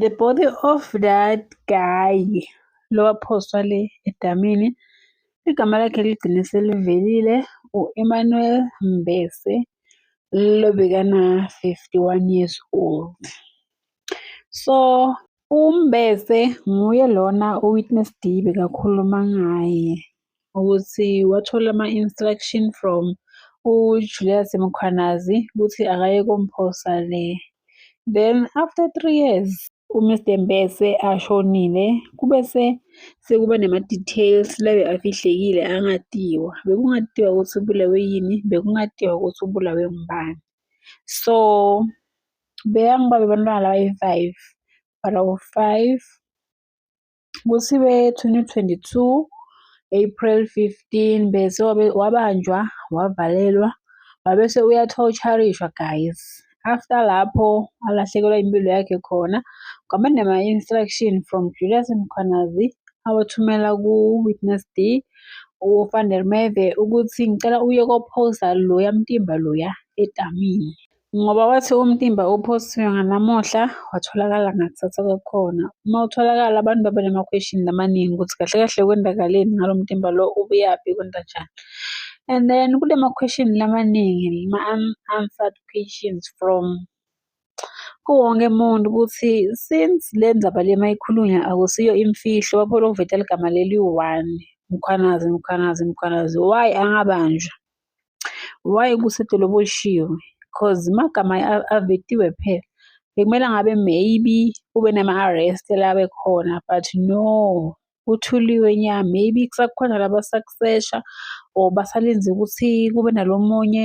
The body of that guy lowaphoswa le edamini igama lakhe ligcine selivelile u-Emmanuel Mbese lobekana-51 years old. So uMbese nguye lona uWitness D bekakhuluma ngaye. ukuthi wathola ama-instruction from uJulius Mkhwanazi ukuthi akaye komphosa le. Then after three years uMr Mbese ashonile kube se sekuba nama-details labe afihlekile angatiwa. Bekungatiwa ukuthi ubulawe yini, bekungatiwa ukuthi ubulawe ngubani. So beyangiba bebantwana laba yi-five, but awu-five Kuthiwe 2022 April 15 bese wabanjwa wavalelwa wabese uyathotsharishwa guys after lapho alahlekelwa impilo yakhe khona kwaba nama-instruction from Julius Mkhwanazi awathumela ku-witness D uFan der Merwe ukuthi ngicela uye kophosa loya mtimba loya etamini. Ngoba wathi umtimba uphosiwe nganamuhla watholakala ngakusasa kwakhona. Uma utholakala abantu babe namakhweshini amaningi ukuthi kahle kahle kwendakaleni ngalo mtimba lo ubuyaphi kwenzenjani. And then kule makhweshini lamaningi ma-unanswered questions from kuwonke umuntu ukuthi since le ndaba le mayikhulunywa akusiyo imfihlo baphole ukuveta ligama leli one Mkhwanazi Mkhwanazi Mkhwanazi why angabanjwa. Why kusetshele oboshiwe? Cause magama avetiwe phela. Bekumele ngabe maybe kube nama-arrest labe khona but no kuthuliwe nya maybe kusakhona laba sakusesha or basalinze ukuthi kube nalo munye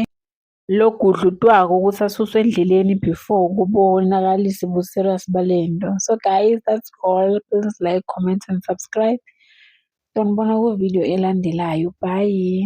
logudlutwako ukuthi asuswe endleleni before kubonakalise ubu-serious bale nto. So guys that's all. Please like, comment and subscribe. Sonibona ku video elandelayo. Bye.